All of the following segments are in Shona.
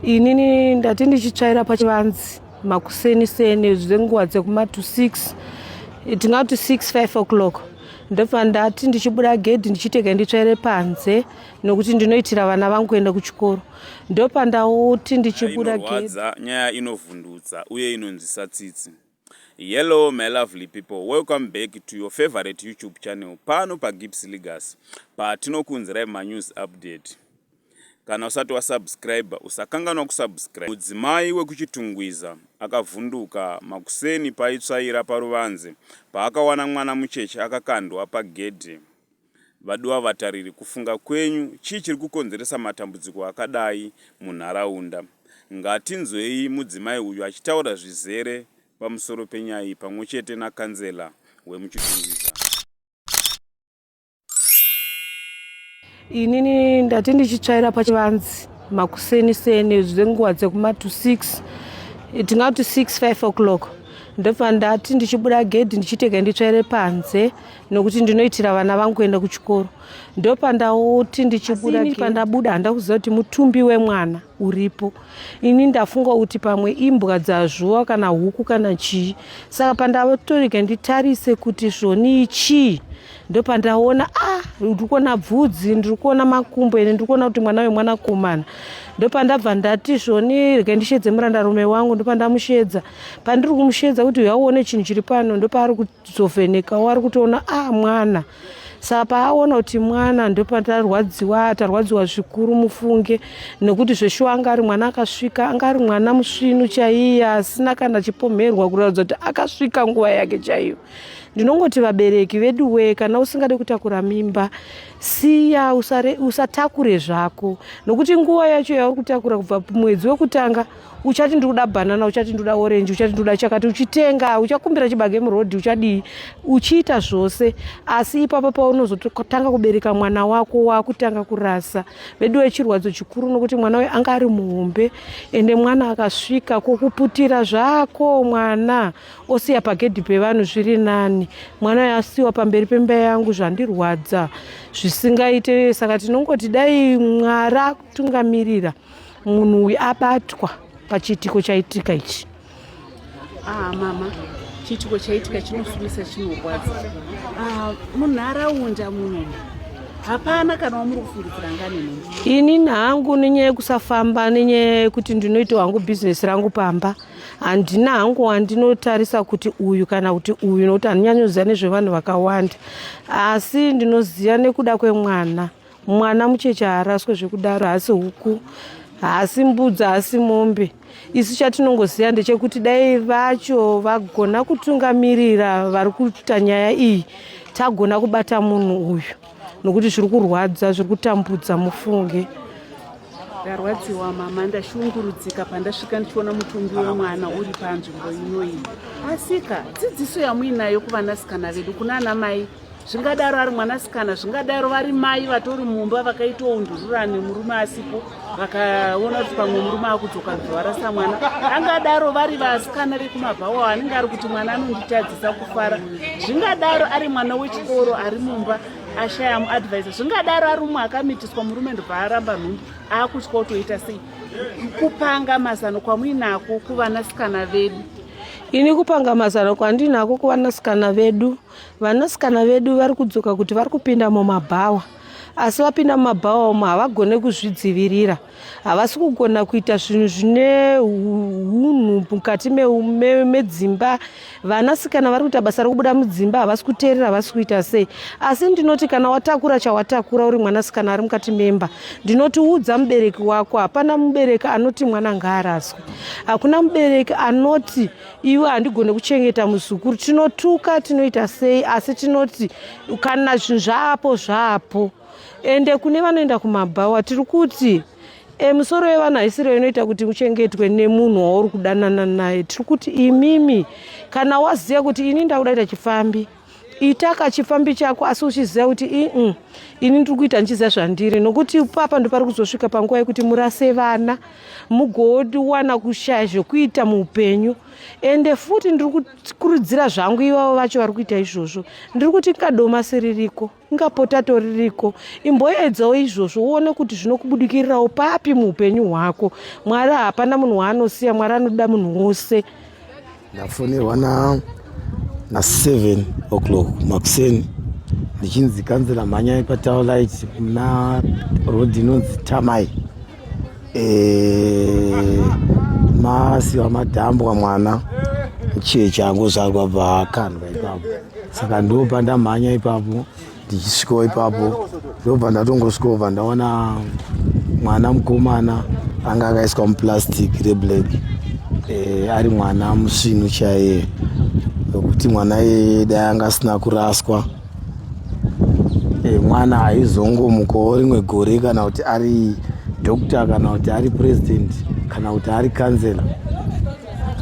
inini ndati ndichitsvaira pachivanzi makuseni seni zvenguva dzekuma to six tingati to six five o'clock ndofa ndati ndichibuda gedhi ndichitega nditsvaire panze nokuti ndinoitira vana vangu kuenda kuchikoro ndopa ndauti ndichibuda gedhi nyaya inovhundutsa uye inonzwisa tsitsi Hello my lovely people welcome back to your favorite youtube channel pano pagips legacy patinokuunzirai manews update kana usati wasubscribe usakanganwa kusubscribe mudzimai wekuchitungwiza akavhunduka makuseni paitsvaira paruvanze paakawana mwana mucheche akakandwa pagedhe Vaduwa vatariri, kufunga kwenyu chii chiri kukonzeresa matambudziko akadai munharaunda? Ngatinzwei mudzimai uyu achitaura zvizere pamusoro penyaya iyi pamwe chete nakanzela wemuChitungwiza. Inini ndati ndichitsvaira pachivanzi makuseni seni zvenguva dzekuma to 6 tingati 6 5 o'clock ndofa ndati ndichibuda gedhi ndichiteka nditsvaire panze nokuti ndinoitira vana vangu kuenda kuchikoro ndopandauti ndichibuda pandabuda handa kuziva kuti mutumbi wemwana uripo ini ndafunga kuti pamwe imbwa dzazvuva kana huku kana chii saka pandatorega nditarise kuti zvonii chii ndopandaona ah ndiri kuona bvudzi ndiri kuona makumbo ene ndiri kuona kuti mwana wemwanakomana ndopandabva ndati zvoni rega ndishedze murandarume wangu ndopandamushedza pandiri kumushedza kuti uyauone chinhu chiri pano ndopaari kuti tizovheneka wari kutoona a ah, mwana saka paaona kuti mwana ndopatarwadziwa tarwadziwa zvikuru mufunge nekuti zveshuwa anga ari mwana akasvika anga ari mwana musvinu chaiye asina kana chipomherwa kuratidza kuti akasvika nguva yake chaiyo ndinongoti vabereki vedu wee kana usingade kutakura mimba siya usatakure zvako nokuti nguva yacho yauri kutakura kubva mwedzi wekutanga uchati ndikuda banana uchati ndikuda orange uchati ndikuda chakati uchitenga uchakumbira chibage murodhi uchadii uchiita zvose asi ipapa paunozotanga kubereka mwana wako wakutanga kurasa vedu wechirwadzo chikuru nokuti mwana uyo anga ari muhombe ende mwana akasvika kokuputira zvako mwana osiya pagedhi pevanhu zviri nani mwana uyo asiwa pamberi pemba yangu zvandirwadza zvisingaite saka tinongoti dai mwari akutungamirira munhu uyu abatwa pachiitiko chaitika ichi ah, mama chiitiko chaitika chinofumisa chinorwadza ah, munharaunda muno hapana kana wamuri kufungidzira ngani nini inini hangu nenyaya yekusafamba nenyaya yekuti ndinoita hangu bhizinesi rangu pamba handina hangu wandinotarisa kuti uyu kana kuti uyu nokuti handinyanyoziva nezvevanhu vakawanda asi ndinoziva nekuda kwemwana Mwana mucheche haaraswe zvekudaro, haasi huku, haasi mbudzi, haasi mombe. Isu chatinongoziva ndechekuti dai vacho vagona kutungamirira vari kuita nyaya iyi, tagona kubata munhu uyu nokuti zviri kurwadza, zviri kutambudza mufunge ndarwadziwa mama ndashungurudzika pandasvika ndichiona mutumbi wemwana uri panzvimbo inoyi asika dzidziso yamuinayo kuvanasikana vedu kuna ana mai zvingadaro ari mwanasikana zvingadaro vari mai vatori mumba vakaita undurura nemurume asipo vakaona kuti pamwe murume akudzoka bvavarasa mwana angadaro vari vasikana vekumabhawa anenge ari kuti mwana anonditadzisa kufara zvingadaro ari mwana wechikoro ari mumba ashaya muadvisa zvingadaro ari umwe akamitiswa murume ndobvaaramba nhumbu akutya kutoita sei kupanga mazano kwamuinako kuvanasikana vedu ini kupanga mazano kwandinako kuvanasikana vedu Vanasikana vedu vari kudzoka kuti vari kupinda mumabhawa asi vapinda mumabhawa umo havagone kuzvidzivirira havasi kugona kuita zvinhu zvine unhu mukati medzimba vanasikana vari kuita basa rekubuda mudzimba havasi kuteerera havasi kuita sei asi ndinoti kana watakura chawatakura uri mwanasikana ari mukati memba ndinoti udza mubereki wako hapana mubereki anoti mwana ngaaraswe hakuna mubereki anoti iwe handigone kuchengeta muzukuru tinotuka tinoita sei asi tinoti kana zvinhu zvaapo zvaapo ende kune vanoenda kumabhawa tiri kuti e, misoro yevanhu haisiro inoita kuti uchengetwe nemunhu wauri kudanana naye tiri kuti imimi kana waziva kuti ini ndakudaita chifambi ita kachipfambi chako asi uchiziva kuti ii ini ndiri kuita ndichiziva zvandiri nokuti papa ndopari kuzosvika panguva yekuti murase vana mugowana kushaya zvekuita muupenyu ende futi ndiri kukurudzira zvangu ivavo vacho vari kuita izvozvo ndiri kuti kadoma siririko ngapotato ririko imboedzawo izvozvo uone kuti zvinokubudikirirawo papi muupenyu hwako mwari hapana munhu waanosiya mwari anoda munhu wose ndafonerwa na na 7 o'clock makuseni ndichinzi kanzira mhanyai patawlight muna rod inonzi tamai Eh, masi wamadhambwa mwana mucheche angozvarwa paakandwa ipapo saka ndobva ndamhanya ipapo ndichisvikawo ipapo ndobva ndatongosvikobva ndaona mwana mukomana anga akaiswa muplastic reblack eh, ari mwana musvinu chaiye nokuti mwana yeye dai anga asina kuraswa Eh, mwana haizongomukawo rimwe gore kana kuti ari doctor kana kuti ari president kana kuti ari kansela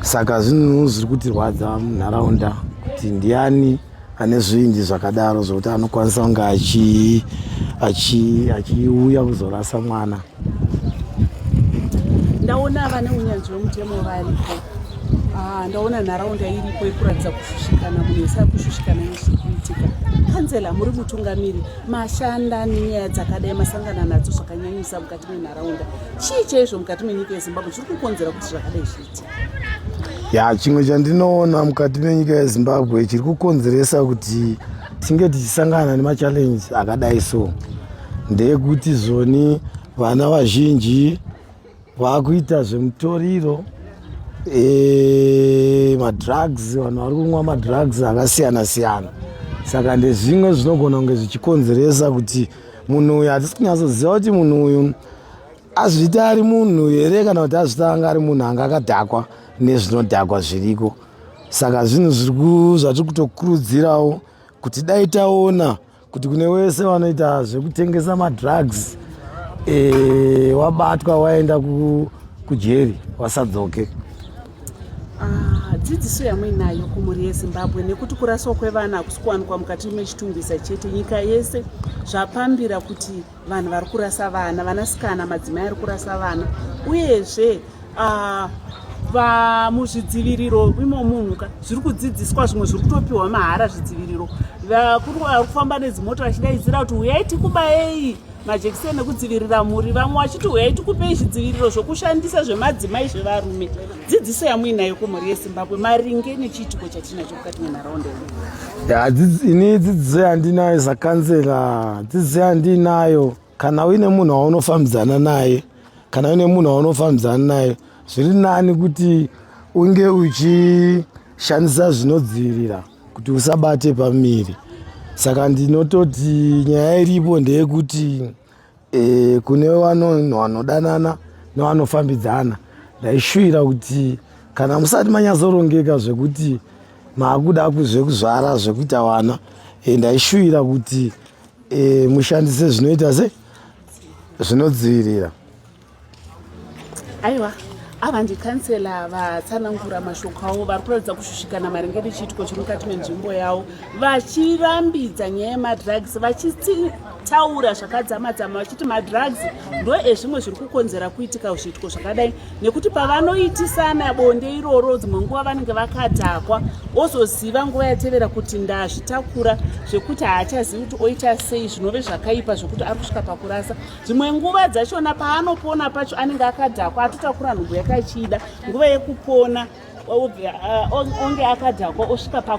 saka zvinhu zviri kutirwadza munharaunda kuti ndiani ane zvinji zvakadaro zvokuti anokwanisa kunge achiuya kuzorasa mwana ndaona vane unyanzvi wemutemo varipo ah, ndaona nharaunda iripo yekuratidza kushushikana munhu wese ari kushushikana nezviri kuitika kanzela muri mutungamiri mashanda nenyaya dzakadai masangana nadzo zvakanyanyisa mukati menharaunda chii chaizvo mukati menyika yezimbabwe chiri kukonzera kuti zvakadai zviitika ya chimwe chandinoona mukati menyika yezimbabwe chiri kukonzeresa kuti tinge tichisangana nemachallenje akadai so ndeyekuti zoni vana vazhinji vakuita zvemutoriro e, madrugs vanhu vari kunwa madrugs akasiyana siyana saka ndezvimwe zvinogona kunge zvichikonzeresa kuti munhu uyu hatisi kunyatsoziva kuti munhu uyu azviita ari munhu here kana kuti azviita anga ari munhu anga akadhakwa nezvinodhakwa zviriko saka zvinhu zvatiri kutokurudzirawo kuti dai taona kuti kune wese vanoita zvekutengesa madrugs e, wabatwa waenda kujeri wasadzoke ah, dzidziso yamuinayo kumhuri yezimbabwe nekuti kuraswa kwevana hakusi kuwanikwa mukati mechitungwiza chete nyika yese zvapambira kuti vanhu vari kurasa vana vanasikana madzimai ari kurasa vana uyezve ah, vamuzvidziviriro imo munhu ka zviri kudzidziswa zvimwe zviri kutopiwa mahara zvidziviriro vakuru vari kufamba nedzimota vachidaidzira kuti huyai tikubayei majekiseni ekudzivirira mhuri vamwe vachiti huyai tikupei zvidziviriro zvokushandisa zvemadzimai zvevarume dzidziso yamuinayo kumhuri yezimbabwe maringe nechiitiko chatinacho mukati menharaunda yedu ini dzidziso yandinayo zakansela dzidziso yandinayo kana uine munhu waunofambidzana naye kana uine munhu waunofambidzana naye zviri nani kuti unge uchishandisa zvinodzivirira kuti usabate pamiri saka ndinototi nyaya iripo ndeyekuti e, kune vanhu vanodanana nevanofambidzana ndaishuvira kuti kana musati manyatsorongeka zvekuti maakuda zvekuzvara zvekuita vana e, ndaishuvira kuti e, mushandise zvinoita se zvinodzivirira aiwa ava ndikansela vatsanangura mashoko avo vari kuratidza kushushikana maringe nechiitiko chiri mukati menzvimbo yavo vachirambidza nyaya yemadrugs vachitaura zvakadzamadzama vachiti madrugs ndo ezvimwe zviri kukonzera kuitika zviitiko zvakadai nekuti pavanoitisana bonde iroro dzimwe nguva vanenge vakadhakwa ozoziva nguva yatevera kuti ndazvitakura zvekuti haachazivi kuti oita sei zvinove zvakaipa zvekuti ari kusvika pakurasa dzimwe nguva dzachona paanopona pacho anenge akadhakwa atotakura nhumbu yakachida nguva yekupona onge akadhakwa osvika pa